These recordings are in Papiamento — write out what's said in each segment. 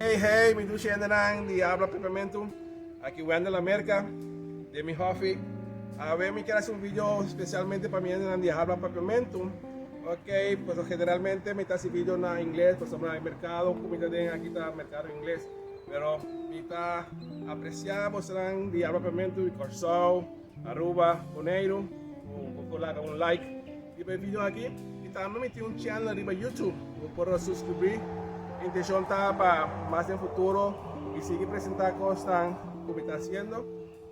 Hey hey mi dushi hendenan di Habla Pepermentu, aki Wendel Amerca den mi hofi. Awe mi kier hasi un video specialmente pa mi hendenan di Habla Pepermentu, ok, pasobra generalmente mi ta hasi video na ingles pasobra e mercado cu mi ta den aki ta mercado ingles, pero mi ta aprecia bosonan di Habla Pepermentu di Corsou, Aruba Boneiru bo por laga un like riba e video aki y tambe mi tin un channel riba YouTube bo por a suscribí. Mi intencion ta pa mas den futuro mi sigui presenta cosnan cu mi ta haciendo.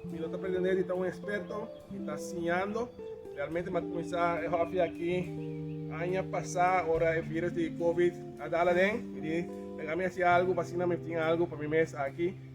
Mi no ta pretende di ta un experto, mi ta siñando. Realmente mi a cuminsa e hobby aki aña pasa ora e virus di covid a dal aden y di mega mi haci algo pa asina mi tin algo pa mi mes aki.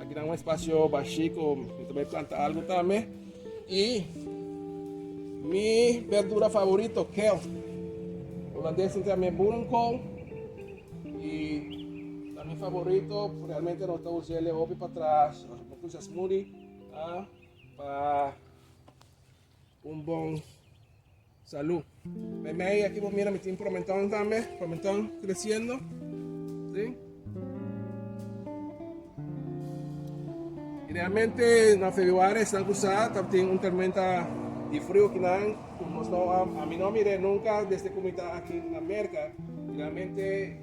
Aki nan un espasio bashi ku mi ta bai planta algu tambe. I mi berdura favorito, kel. Holandes tin tambe boerenkool. I ta mi favorito, realmente no ta usa el e hopi patras, no kusa smoothie, pa un bon. Salú. Bij mij aki bo mira mi tin promenton tambe, promenton creciendo. Si. Y realmente na februari esnan cu sa tabtin un tormenta di frio aquí nan cu nos no a mi no a mir'e nunca desde cu mi ta aki na Merca y realmente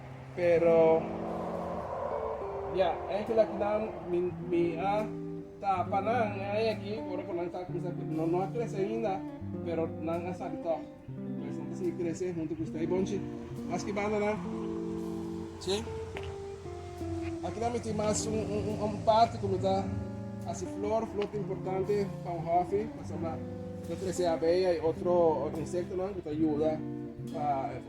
Pero, ya, e angelnan ku nan mi a tapa nan, e aña aki, ora ku nan ta kuminsá krese, nan no a krese ainda, pero nan a sabi tòg. Pues nan ta sigui krese huntu ku usté. Bon chi, maske bandanan, chi? Akinan mi tin mas un parti ku mi ta hasi flor, flor ta importante pa un hòfi, pasobra ta trese abeya i otro insektonan ku ta yuda pa.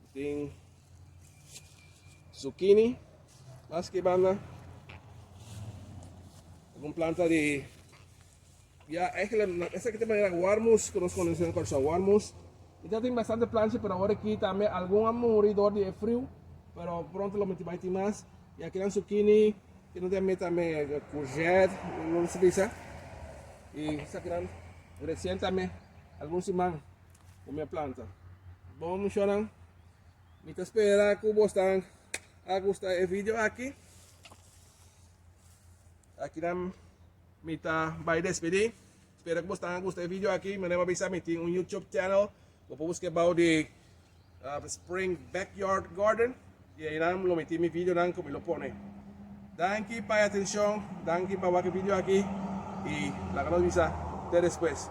Bo tin zucchini, mas ki banda un planta di ya eigenlijk esa kita manera warmus ku nos konosi na Kòrsou warmus. Kita tin bastante planchi pero awor aki tambe algun a muri dor di e friu pero pronto lo miti bai tin mas. Y akinan zucchini, kinan tin amé tambe courgette, no lo sa bisa. Y esakinan recien tambe algun siman. ku mi a planta. Bon muchanan, mi ta spera ku bosnan a gusta e video aki. Akinan mi ta bai despedí. Spera ku bosnan a gusta e video aki. Mi anima bisa mi tin un YouTube channel. Bo por buska bou di uh, Spring Backyard Garden. I ainan lo mi tin mi videonan ku mi lo pone. Danki pa e atenshon, danki pa wak e video aki i laga nos bisa te despues.